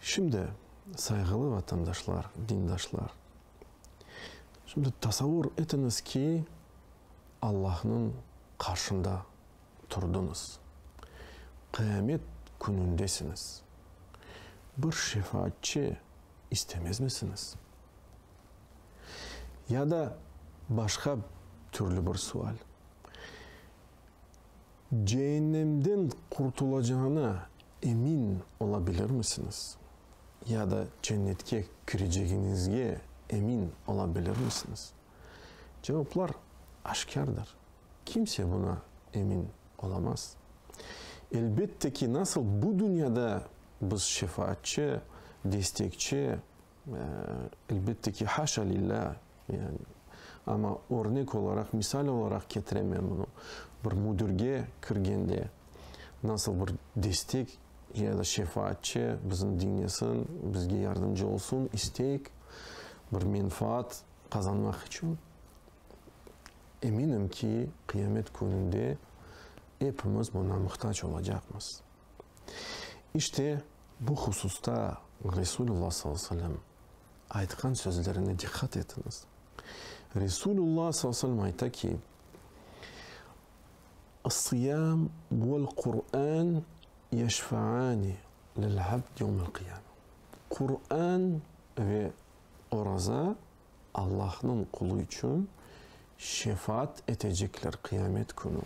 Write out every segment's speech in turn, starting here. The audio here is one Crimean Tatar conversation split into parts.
Şimdi, sayğılı vatandaşlar, dindaşlar, şimdi tasavur etiñiz ki, Allahnıñ qarşında turdıñız, qıyamet künündesiñiz. Bir şefaatçi istemezmisiñiz? Ya da başqa türlü bir sual. Ceennemden qurtulacağına emin ola bilirmisiñiz? Ya da Cennetke kirecegiñizge emin ola bilirmisiñiz? Cevaplar aşkârdır. Kimse buña emin olamaz. Elbette ki, nasıl bu dünyada biz şefaatçı, destekçi, Elbette ki, haşa lilâ, yani, amma örnek olaraq, misal olaraq ketirem men bunı. Bir müdirge kirgende, nasıl bir destek ya da şefaatçı bizni diñlesin, bizge yardımcı olsun isteyik, bir menfaat qazanmaq içün, eminim ki, qıyamet kününde epimiz buna muhtac olacaqmız. İşte, Bu hususta Resulullah sallallahu aleyhi ve sellem aytqan sözlerine diqqat etiñiz. Resulullah sallallahu aleyhi ve sellem ayta ki, Issıyâm vel Qur'ân yeşfâni lil abd yevmel qiyâme. Qur'ân ve oraza Allahnıñ qulu içün şefaat etecekler Qıyamet künü.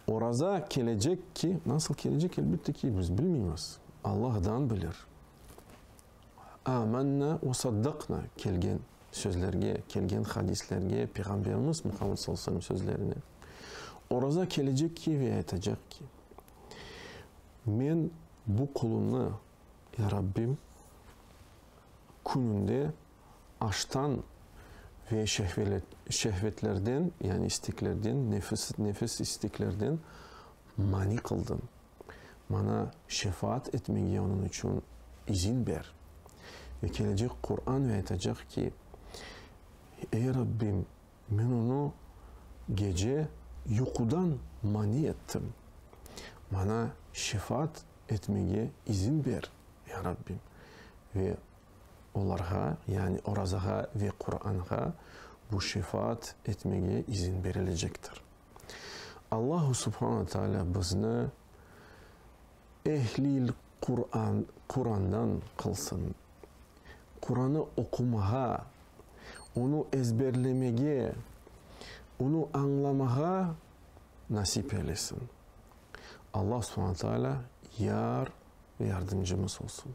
Oraza kelecek ki, nasıl kelecek, elbette ki, biz bilmeymiz, Alla ğdan bilir. Âmennâ ve saddaknâ kelgen sözlerge, kelgen hadislerge, Peyğamberimiz Muhammed sallallahu aleyhi ve sellem sözlerine. Oraza kelecek ki ve aytacaq ki, Men bu qulunı, Ya Rabbim, kününde Aştan ve şehvetlerden, yani isteklerden, nefis isteklerden mani qıldı. Maña şefaat etmege onıñ içün izin ber. Ve kelecek Quran ve aytacaq ki, Ey Rabbim, men onı gece yuqudan mani ettim. Maña şefaat etmege izin ber, ey Rabbim. Ve Olarğa, yani orazağa ve Quranğa bu şefaat etmege izin berilecektir. Allahu subhana taalâ bizni ehlil Quran, Qurandan qılsın. Quranı oqumağa, onı ezberlemege, onı añlamağa nasip eylesin. Allahu subhana taalâ yar ve yardımcımız olsun.